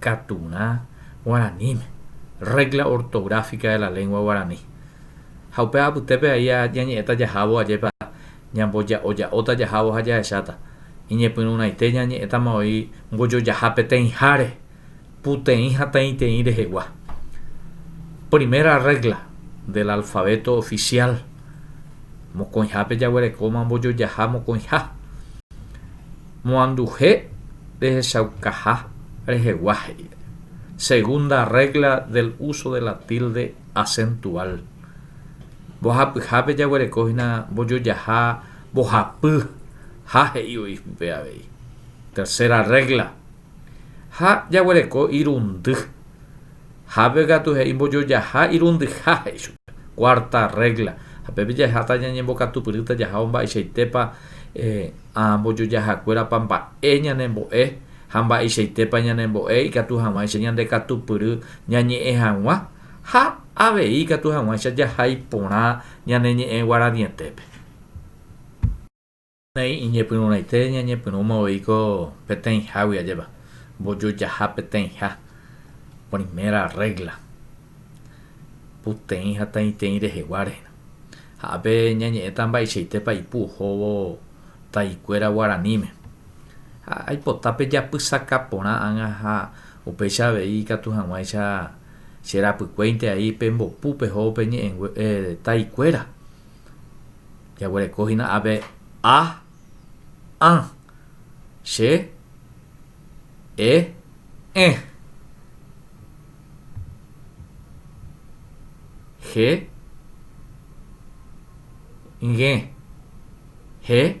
Katurã guaraníme, Regla ortográfica de la lengua guaraní. Ha upe apytépe a'i ñañe'ẽta jahávo ajépa ñamboja'oja'óta jahávo ha jahecháta. Iñepyrũraite ñañe'ẽtama oĩ mbojojaha peteĩháre, puteĩ ha teĩteĩ rehegua. Primera regla del alfabeto oficial, Mokõihápe jaguerekóma mbojojaha mokõiha. Moanduhe rehechaukaha rehegua he'íre, segunda regla del uso de la tilde acentual, mbohapyhápe jaguereko hína mbojojaha mbohapy ha he'i voi pype avei, tercera regla, ha jaguereko irundy. Ha pe katu he'i mbojojaha irundyha, he'i chupe. Cuarta regla, ha pépe jaheháta ñañembokatupyrýta jahávo mba'eichaitépa mbojojahakuérapa mba'e ñanembo'e ha mba'eichaitépa ñanembo'e ikatu hag̃uáicha ñandekatupyry ñañe'ẽ hag̃ua ha avei ikatu hag̃uáicha jahai porã ñane ñe'ẽ guaraniete-pe. Peteĩ iñepyrũraite ñañepyrũma voi ko peteĩhágui ajépa, mbojojaha peteĩha, primera rrégla, puteĩ ha taĩteĩ reheguáre. Ha ápe ñañe'ẽta mba'eichaitépa ipu ohóvo taikuéra guaraníme. Ha aipota pe japysaka porã ág̃a ha upéicha avei ikatu hag̃uáicha che rapykuéinte ai pe mbopu peho pe ñe'ẽngue taikuéra. Jaguereko hína ave a, ã, che, e, ẽ, je, ñge, he,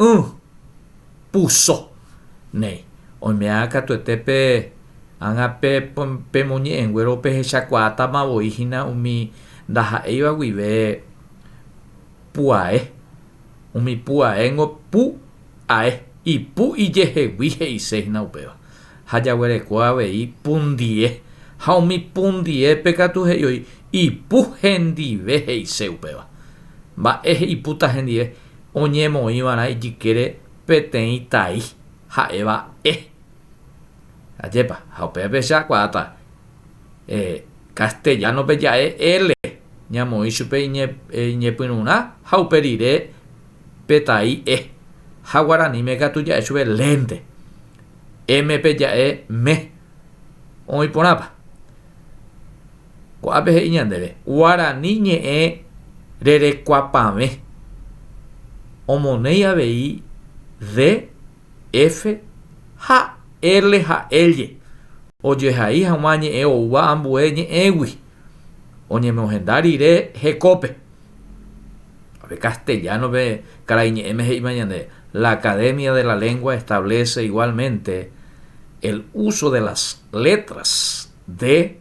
y puso néi. Oime'ã katuete pe ágã pemoñe'ẽnguéro opehechakuaátama voi hína umi ndaha'éiva guive pu'ae. Umi pu'aéngo pu ae, ipu ijehegui he'ise hína upéva. Ha jaguereko avei pundie. Ha umi pundiépe katu he'iói ipu hendive he'ise upéva. Mba'e ipúta hendive? oñemoĩva'erã ijykére peteĩ tai ha'éva E. Ajépa, ha upéva pe che akuaáta E. Castellano-pe ja'e L ñamoĩ chupe iñepyrũrã ha upe rire pe tai E. Ha guaraníme katu ja'e chupe lénte. M-pe ja'e me. Oĩ porãpa? Ko'ápe he'i ñandéve guarani ñe'ẽ rerekuapavẽ, omonéi avei D, F ha L ha Ll ojehai hag̃ua ñe'ẽ oúva ambue ñe'ẽgui oñemohenda rire hekópe. Tape castellano-pe karai ñe'ẽme he'íma ñandéve, La Academia de la Lengua establece igualmente el uso de las letras D,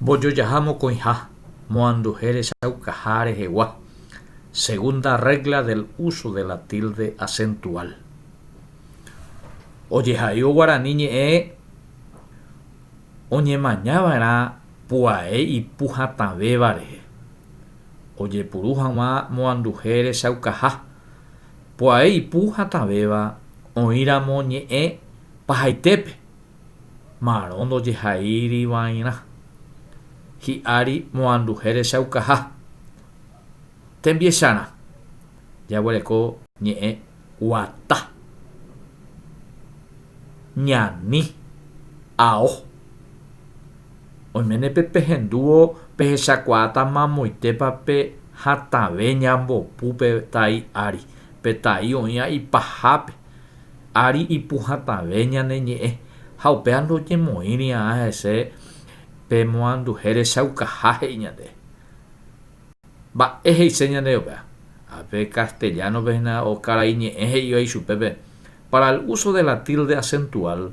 Mbojojaha mokõiha moanduje rechaukaha rehegua, segunda regla del uso de la tilde acentual. Ojehaívo guarani ñe'ẽ oñemaña va'erã pu'ae ipu hatãvéva rehe. Ojepuru haguã moanduje rechaukaha, pu'ae ipu hatãvéva oĩramo ñe'ẽ pahaitépe. Marõ ndojehaírivairã. Hi'ári moanduhe rechaukaha. Tembiecharã. Jaguereko ñe'ẽ guata. Ñani. Ao. Oiméne pe pehendúvo pehechakuaáta mamoitépa pe hatãve ñambopu pe tai ári, pe tai oĩva ipahápe. Ári ipu hatãve ñane ñe'ẽ, ha upéva ndojemoĩrĩa'a hese pe moanduhe rechaukaha he'i ñande. Mba'e he'ise ñandéve upéva? Ha pe castellano-pe hína o karai ñe'ẽ he'íva ichupe pe para el uso de la tilde acentual,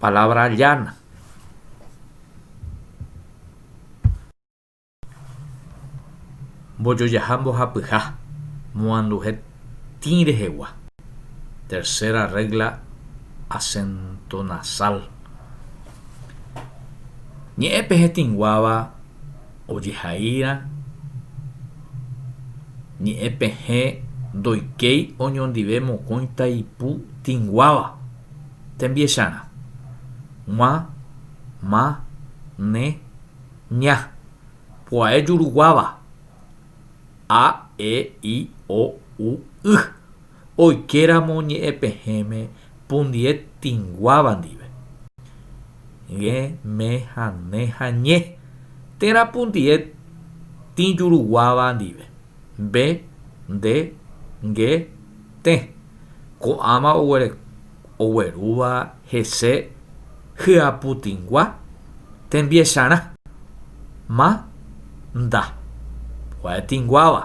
palabra llana. Mbojojaha mbohapyha, moanduhe tĩ rehegua. Tercera regla acento nasal. Ñe'ẽ pe hetĩnguáva ojehaíra ñe'ẽ pehẽ ndoikéi oñondive mokõi taipu tĩnguáva. Tembiecharã. G̃uã, ma, ne, ña. Pu'ae juruguáva. A, e, i, o, u, y. Oikeramo ñe'ẽpehẽme pundie tĩguáva ndive. Ge, me, ha, ne, ha, ñe. Térã pundie tĩ juruguáva ndive. Mbe, nde, nge, Tẽ, ko'ãva oguerúva hese hyaputĩgua tembiecharã, ma, nda, gua'etĩguáva,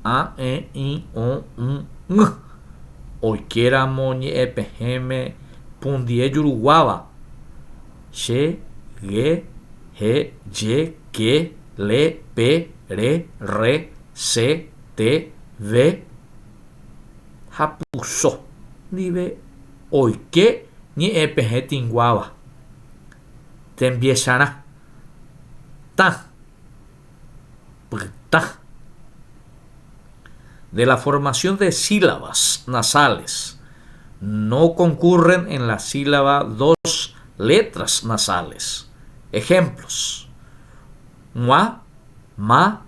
a, e, i, o, ũ, ñ, oikéramo ñe'ẽpehẽme pundie juruguáva, che, ge, he, je, ke, le, pe, re, rre, se, te, ve, ha puso ndive oike ñe'ẽpehẽ tinguáva tembiecharã, tã, pytã. De la formación de sílabas nasales no concurren en la sílaba dos letras nasales. Ejemplos, g̃ua, ma,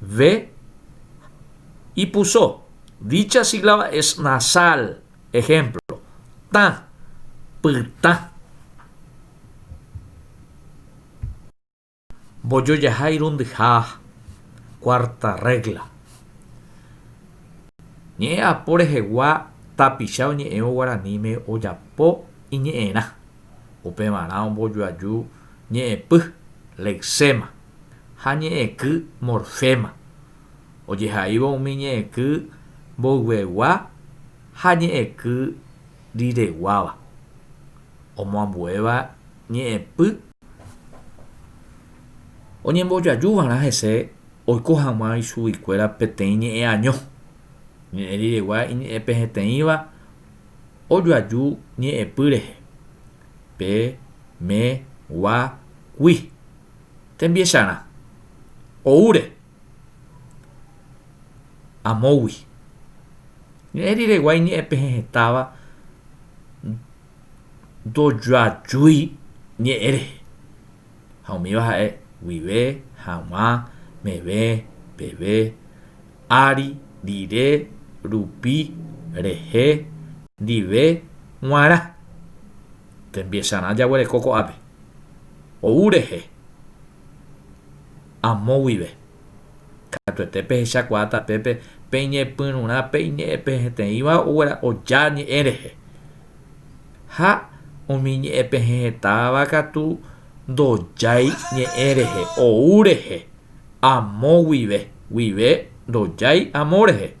Ve ipuso. Dicha sílaba es nasal. Ejemplo, tã, pytã. Mbojojaha irundyha. Cuarta regla. Ñe'ẽ apo rehegua tapicha oñe'ẽvo guaraníme ojapo iñe'ẽrã. Upevarã ombojoaju ñe'ẽpy, lexema. ha ñe'ẽky morféma, ojehaívo umi ñe'ẽky mboyvegua ha ñe'ẽky rireguáva, omoambuéva ñe'ẽpy oñembojaju va'erã hese oiko hag̃ua ichuguikuéra peteĩ ñe'ẽ año, ñe'ẽ riregua iñe'ẽpeheteĩva ojoaju ñe'ẽpy rehe, pe, me, gua, gui. Tembiecharã. Oúre. Amógui. Ñe'ẽ riregua iñe'ẽpehe hetãva ndojoajúi ñe'ẽ rehe. Ha umíva ha'e guive, haguã, meve, peve, ári, rire, rupi, rehe, ndive, g̃uarã. Tembiecharã jaguereko ko'ápe, ou rehe, amo guive. Katuete pehechakuaa tapépe peñepyrũrã pe iñe'ẽ peheteĩva oja ñe'ẽ rehe. Ha umi ñe'ẽ pehetáva katu ndojái ñe'ẽ rehe, ou rehe, amo guive, guive ndojái amo rehe.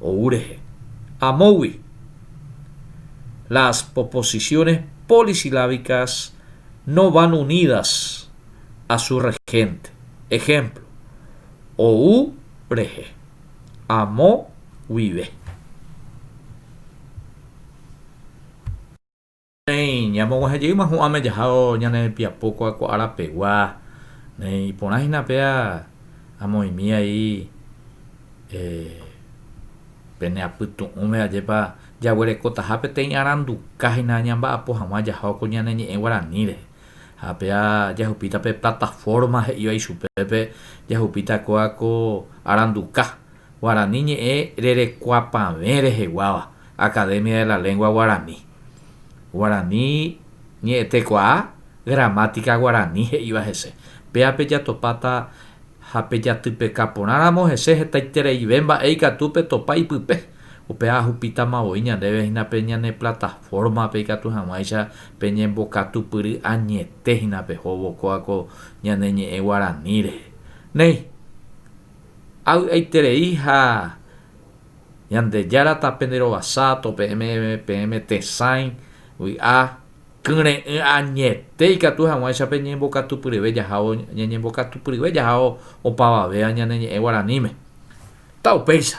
ou rehe. Amógui, las proposiciones polisilábicas no van unidas a su regente. Ejemplo, ou rehe, amo guive. Néi, ñamog̃uahẽ jeýma hu'ãme jahávo ñane piapo kua'ko ára pegua, néi, iporã hína péa amoĩmi aí pene apytu'ũme ajépa jaguerekotaha peteĩ aranduka hína ñamba'apo hag̃ua jahávo ko ñane ñe'ẽ guarani rehe. Ha péa jahupíta pe plataforma he'íva ichupépe, jahupíta kóa ko aranduka, Guarani ñe'ẽ rerekuapavẽ reheguáva, Academia de la Lengua Guarani. Guarani ñe'ẽtekuaa, gramática guarani he'íva hese. Péa pejatopáta ha pejatypeka porãramo hese hetaitereive mba'e ikatu petopa ipype. Upéva ahupítama voi ñandéve hína pe ñane plataforma-pe ikatu hag̃uáicha peñembokatupyry añete hína pehóvo kóva ko ñane ñe'ẽ guarani rehe. Néi, avy'aiterei ha. Ñandejára tape nde rovasa, to peẽme peẽme tesãi, vy'a, kyre'ỹ añete ikatu hag̃uáicha pe ñembokatupyryve jahávo ñañembokatupyryve jahávo opavavéva ñane ñe'ẽ guaraníme. Taupéicha!